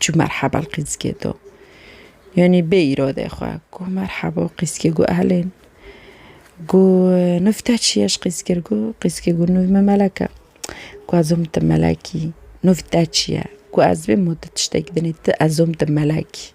Çû merheba li Qîzgê do. Yanî bê îrodê xwe. Got merheba Qîzgê got elên. Got nûv te çi ye ji Qîzgê re? Got Qîzgê got nûv me Melek e. Got ez om te Melekî. Nûv te çi ye? Got ez bê mû tu tiştekî binî tu ez om te Melekî.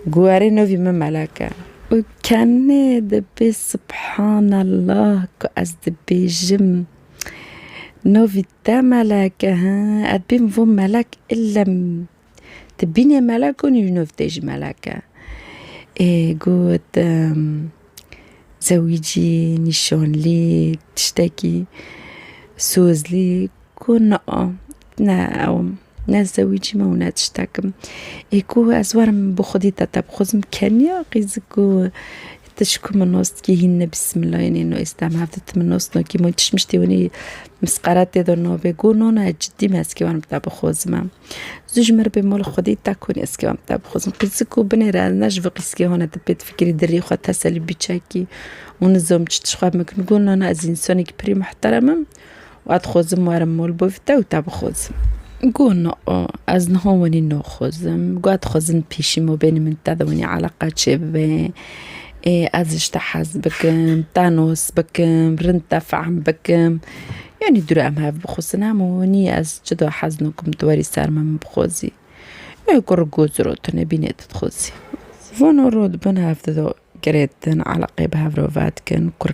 Got erê nûvî me Melek e. Got kenê dibê subhanallah ku ez dibêjim. Novî te melek e he ez bîm vo melek illem tu bînê melek gonî ji nov tê jî melek e. Ê got zewîcî, nîşanlî, tiştekî, sozlî got na, na ew im. Ne zewîcî me û ne tiştek im. Ê ku ez werim bi xwedî te tebixwazim keniya qîzik ku ti ji ku min nos dikî hîn ne bîsmîlayê nîn û ez dem hev di tu min nos nakî min çi tiştî winî misqere tê de nabê got no no ez cidî me ez kê werim te bixwazim em. Zû ji min re bê mala xwedî te konî ez kê werim te bixwazim qîzik ku binê re ez ne ji vî qîzkê hone tu pê difikirî dirrî xwe teselî bî çekî û nizom çi tişt xwe bikin got no no ez însanekî pirî mihterem im Wa dixwazim werim mol bo vî te û te bixwazim. Got na a, ez niha wenî naxwazim. Got dixwazim pêşî ma bênî min te de wenî eleqa çêbibe. Ê ez ji te hez bikim, te nas bikim, rind te fehm bikim. Yanî dûre em hev bixwazin em û nî ez çida hez nakim tu werî ser min bixwazî. Ê kurr got zira tu nebînê tu dixwazî. Vana rû dibin hev dida girêdin eleqeyê bi hev re ve dikin. Kurr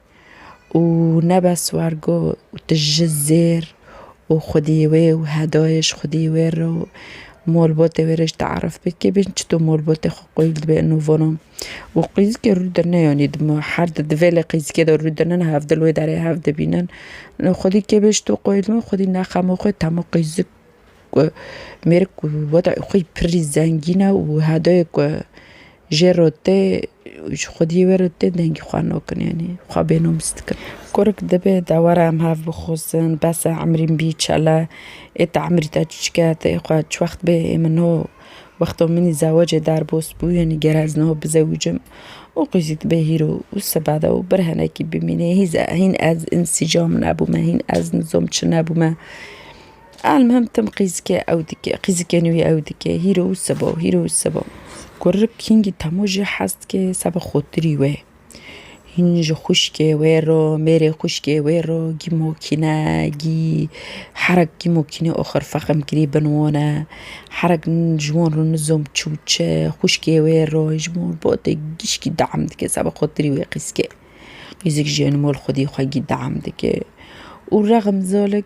û ne bes war got tu ji zêr û xwedî wê û hedayê ji xwedî wê re û malbatê wê re jî te'erif bike bê çi tu malbatê xwe qîl dibê û vana. Û qîzikê rûdine yanî dima her di divê lê qîzikê de rûdine hevdil wê derê hev dibînin. Xwedî kê bê ji to qîl dibin xwedî ne xema xwe tema qîzik Ku mêrik ku wedayê xwe yî pirr zengîn e û hedayê ku jê re tê û ji xwediyê we re tê dengê xwe nakin yanî xwe bênoms dikin. Kurik divê dewera em hev bixwazin, besa emrîn bî çele ê te emrî te çiçik e tê xwe çi wext bê ê min no wexta min ê zewecê derbas bû yanî ger ez niha bizewicim û qey zî dibe hîro û sibade û bir hinekî bimîne hîn ez însîcam nebûme hîn ez nizam çi nebûme. Elmuhim tim qîzikê ew dike, qîzikê nû yê ew dike, hîro û seba û hîro û seba. Kurik hingî temû jî hez dike seba xotirî wê. Hîn ji xwişkê wê re, mêrê xwişkê wê re gîmokîne, gî herek gîmokîne oxir fexm kirî bin wane. Herek ji wan re nizom çi û çi, xwişkê wê re ji wan re botê gişkî deam dike seba xotirî wê qîzikê. Qîzik jî mol xwedî xwe gî deam dike û rexm zalik.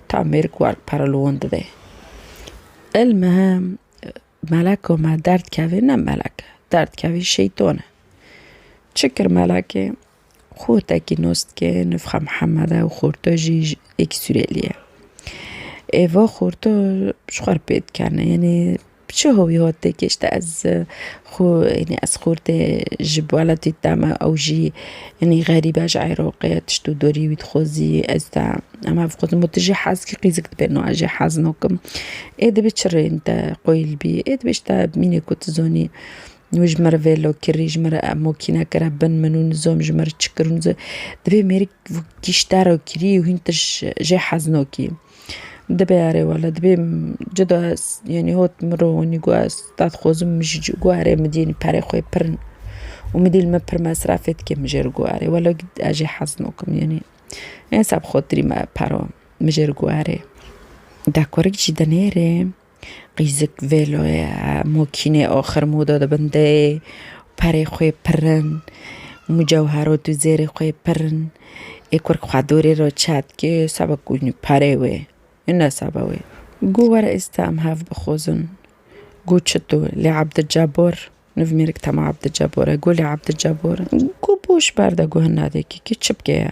Ta mêr ku erd pere li wan dide. Il me meleko me derd kevê ne melek e, derd kevê şeytan e. Çi kir melekê? Xwe wtekî nas dike nifxa Mihemed e û xorto jî yekî Sûrêlî ye. Êva xorto ji xwe re pê dikene, yanê Bi çi hovî hot tê gihişte ez xwe yanî ez xurtê ji welatî te me ew jî yanî xerîb e ji Îroqê tişt û dorî wî dixwezî ez te em hev dixwezin û tu jî hez kî qîzik dibê no ez jî hez nakim ê dibê çi rêyên te qoyîl bî ê dibê ji te bimînê ku tu zanî wê ji min re vê lo kirî ji min re ev makîne kire bin min û nizam ji min re çi kir û nizam dibê mêrik giştera kirî û hîn tişt jê hez nakî. Dibe erê wele dibe cida ez yenî hot min re hûnî got ez dadxwazim min jî got erê min dî yenî perê xwe pir û min dî li me pir mesrefê dike min jê re got erê wele ez jê hez nakim yenî hêsa bi xatirî me para min jê re got erê dek werik jî de nêrê. Qîzik vêloyê mokînê axir moda dibin deyê perê xwê pirin mucewhero tu zêrê xwê pirin ê kurk xwe dorê re çetke seba ku perê wê hine seba wê go were êsta em hev bixwazin go çito lê Abdicebor niv mêrik tema Abdicebor e go lê Abdicebor go boş berde go hina deki kê çi bike ya.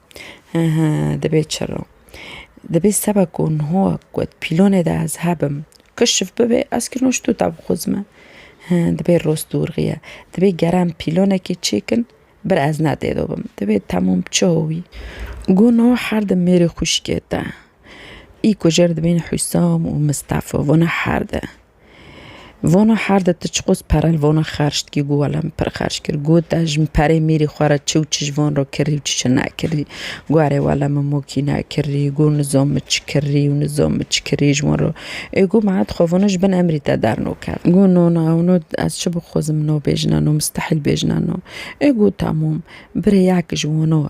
Dibê çiro. Dibê seba ku niho got pîlonê de ez hebim. Kişf bibê ez kirino ji tuta bixwizime. Dibê rost dûrxiye. Dibê geran pîlonekê çêkin bir ez ne tê de bim. Dibê temûm bi çi howî. Ku niho her di mêrê xwişkê de. Î kujêr dibin Husam û Mistefa. Vana her di. Vona her de ti çiqûs perel vona xerc dikî got wele min pir xerc kir. Got te ji min perê mîrî xwe re çi û çi ji van re kirî û çi çi nekirî. Got erê wele min mokî nekirî. Got nizam min çi kirî û nizam min çi kirî ji wan re. Ê got ma dixwe vona ji bin emrî te dernakevin. Got no no ew no ez çi bixwazim no bêjina no mistehîl bêjina no. Ê got temam birê yek ji wan o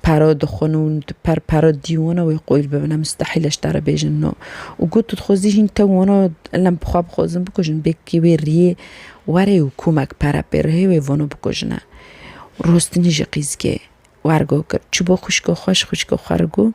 Pero dixwin û tu per pero dî wina wê qoyîl bibin. Mustehîl e ji te re bêjin no. Û got tu dixwazî hîn te wina lem bi xwe bixwazin bikujin bêkekê wê riyê were û komek pere pê re hê wê vano bikujine. Rostinî jî qîzgê wergo kir. Çû bo xwişka xwe ji xwişka xwe re got.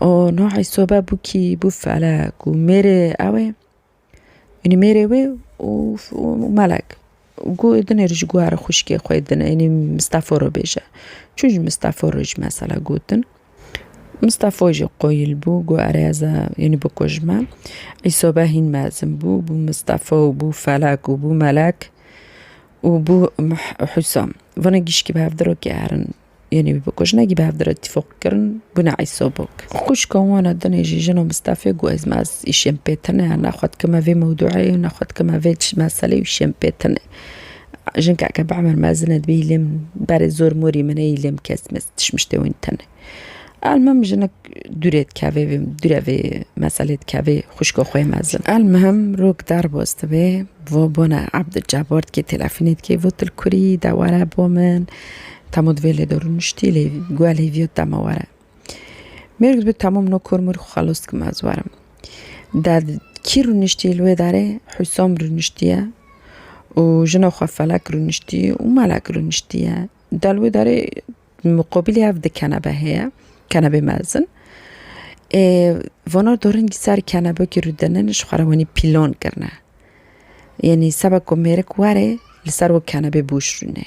û nohê sobe bû kî bû fele ku mêrê ew ê ênî mêrê wê û melek ku dinê ji guherê xwişkê xwe dine ênî Mistefo re bêje çû ji Mistefo re jî mesela gotin Mistefo jî qoyil bû ku erê ez e ênî bikuj min ê sobe hîn mezin bû bû Mistefo û bû felek û bû melek û bû Husam vana gişkî bi hev dirokî herin. Yûnî bi bikûj ne gî bi hev dire tîfok kirin bûne îsobok. Xwişka wan a dinê jî jina Mistefê got ez mez îşên pê tune ne xwe dikime vê mewdûeyê û ne xwe dikime vê meseleyê û îşên pê tune. Jinkeke bi emir mezin e dibê îlê min berê zor morî min e îlê min kes mes tişmiştê wîn tune. Elmim jinik dûrê dikevê vê dûre vê meselê dikevê xwişka xwe yê mezin. Elmim rok derbas dibe vat bana Ebdulcebbar dikê telefûnê dikê vat tu li kurî yî de were bo min. Tamo divê lê de rûniştî lê guya lê vîyo tamo were. Mêrg dibe tamo min o kor mir xwe xelos dikim ez werim. De kî rûniştî li wê darê Hûsom rûniştiye û jina xwe Felek rûniştî û Melek rûniştiye. De li wê darê muqabilê ev di kenebe heye, kenebê mezin. Ê vana dorîngî ser kenebekî rûdinin ji xwe re wenî pîlon kirine. Yenî seba ku mêrik were li ser wek kenebê boş rûne.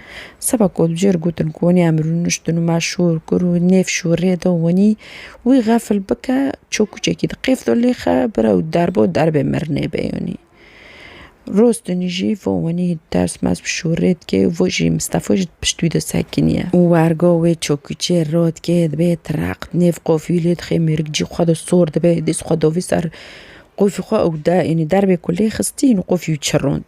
Seba ku di cihêr gotin ku wenî em rûniştin û me şûr kir û nêv şûrê da wenî, wî xefil bike çokûçekî di qêf da lêxe bire û derbo derbê mirinê be yenî. Rostinî jî vo wenî ters mes bi şûrê dike û vo jî Mistefo jî di pişt wî de sekiniye. Û wergo wê çokûçê ra dike dibe tireq di nêv qofî lê dixe mêrik cî xwe de sor dibe dîs xwe davî ser qofî xwe û de yenî derbê ku lê xistî yenî qofî wî çirond.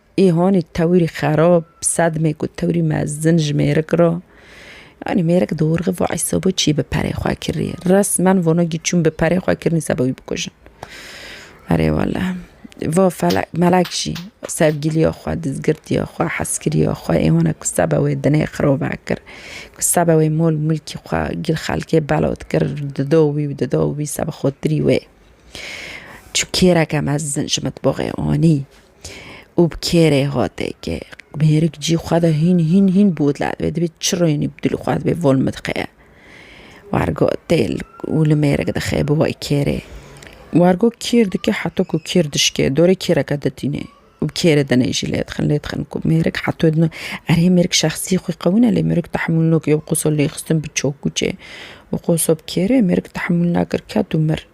Îhanî tewirî xerab, sedmê ku tewirî mezin ji mêrik re. Yanî mêrik dorxe va ey sebo çî bi perê xwe kirî. Resmen vano gî çûn bi perê xwe kirî seba wî bikujin. Erê wele. Va felek melek jî sevgîlîya xwe, dizgirtîya xwe, hezkirîya xwe îhana ku seba wê dinê xirobe kir. Ku seba wê mol mulkî xwe gîl xelkê bela dikir dida wî û dida wî seba xotirî wê. Çû kêreke mezin ji mitbaxê anî. Û bi kêrê hateke mêrik cî xwe de hîn hîn hîn botla dibe dibê çirrînî bi dilê xwe dibê vol min diqeye. Wargo têl û li mêrik dixe bi wê kêrê. Wargo kêr dike heto ku kêr dişke dorê kêreke ditîne û bi kêrê dinê jî lê dixin lê dixin ku mêrik heto dino. Erê mêrik şexsî xwe qewi ne lê mêrik tehmûl nake qoso lê xistin bi çokûçê û qoso bi kêrê mêrik tehmûl nekir ket û mir.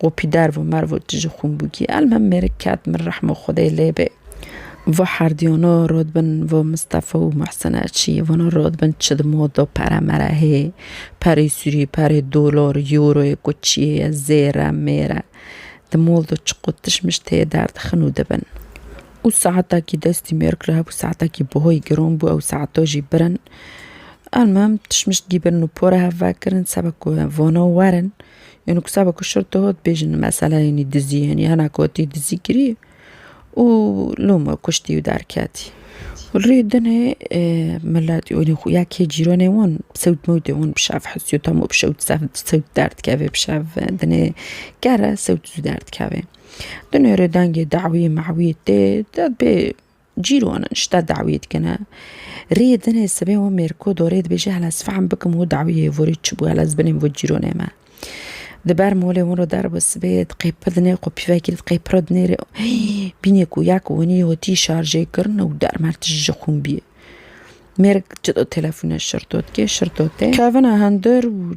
Qopî derv û merv û tije xûn bûkî. Elmhem mêrik ket min rehmo Xwedê lê bê. Vo herdiyano rod bin vo Mistefa û Muhsine çî vano rod bin çi di modo pere mere hê. Perê sûrî, perê dolor, euroyê ku çiyê ye, zêre, mêre. Di moldo çiqo tişt mişt hê derdixin û dibin. Û saeta kî destî mêrik li hebû saeta kî buhoyî giron bû ew saeto jî birin. Elmhem tişt mişt gîbirin û pore hev vekirin sebe ku vano werin. Yanî ku seba ku şil diho dibêjin mesela yanî dizî yanî hene ku tî dizî kirî û loma kuştî û derketî. Rê dinê milet yanî xwe ya kê cîranê wan bi sewt mewtê wan bi şev hesî tam û bi şewt sewt derdikevê bi şev dinê kere sewt zû derdikevê. Dinê rê dengê dawî mawî tê de bê. Cîroan ji te dawiyê dikine. Rê dinê sibê wan mêrko dorê dibêje hela ez fehm bikim û dawiyê vorê çi bû hela ez binêm vo cîronê me. Di ber molê wan re der bi sibê diqêpi dinê xwe pîvekî li diqêpire dinê rê bînê ku ya ku winî hotî şarjê kirine û dermer tije ji xûn bîye. Mêrik cida telefone şirto dike şirto tê. Kevine hindir û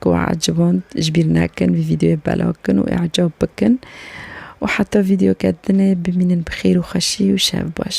Ku we eciband ji bîr nekin vî vîdeoyê belav bikin û îcab bikin û heta vîdeoke dinê bimînin bi xêr û xweşî û şev baş.